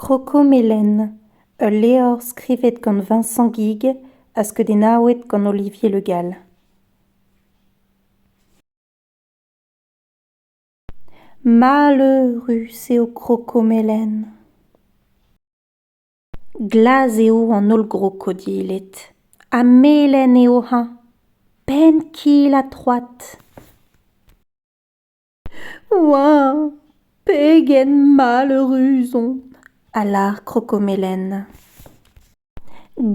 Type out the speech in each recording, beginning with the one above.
Krokomelen, ul levr skrivet gant Vincent Guig ha skeudennaouet gant Olivier Le Gall. Maleurus eo krokomelen. Glas eo an holl grokodilet ha melen eo hañ! Penn-kil ha troad. oa pegen maleurus on a lâr krokomelen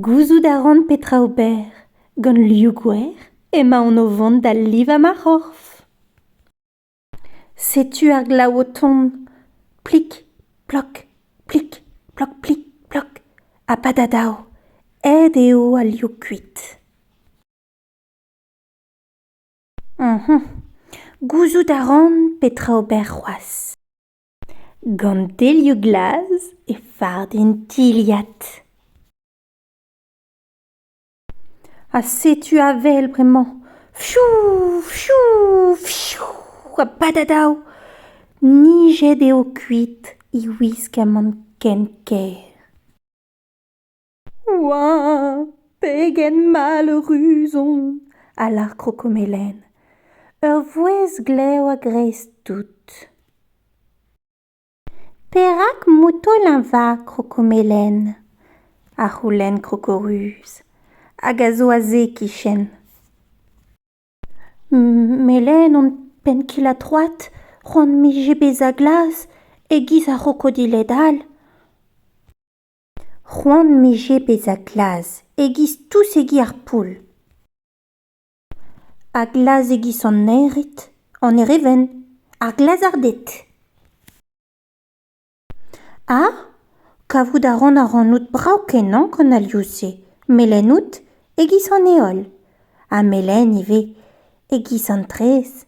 gouzout a ran petra ober gant liv gwer emaon o vont da livañ ma c'horf setu ar glav o tont plik plok plik plok plik plok ha padadav aet eo al liv kuit Gouzout a ran petra ober c'hoazh. Gant delioù glas e fard en tilhad. Ha setu avel bremañ fiou fiou fiou ha badadaou. Nijet eo kuit e wisk amann ken kaer. Oa! Pegen mall ur ruzon! a lâr Krokomelen. Ur vouezh glav a-greiz tout. Perak motoleñ va Krokomelen? a c'houlenn Krokoruz, hag a zo aze e-kichen. Melen hon penn-kil-ha-troad, c'hoant 'mije bezañ glas e-giz ar c'hrokodiled all. C'hoant 'mije bezañ glas e-giz tousegi ar poull. Ha glas e-giz an ered, an erevenn, ar glazarded. Ha kavout a ran ac'hanout brav-kenañ gant alioù-se, melen out e-giz an heol, ha melen ivez e-giz an traezh.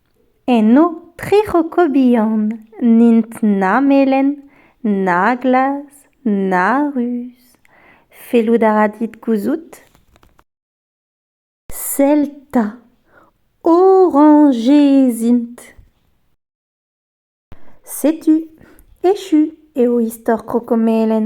Enno tri c'hoko bihan n'int na melen, na glas, na ruz. Fellout a ra dit gouzout ? Sell 'ta, orañjez int. Setu, echu eo istor kroko melen.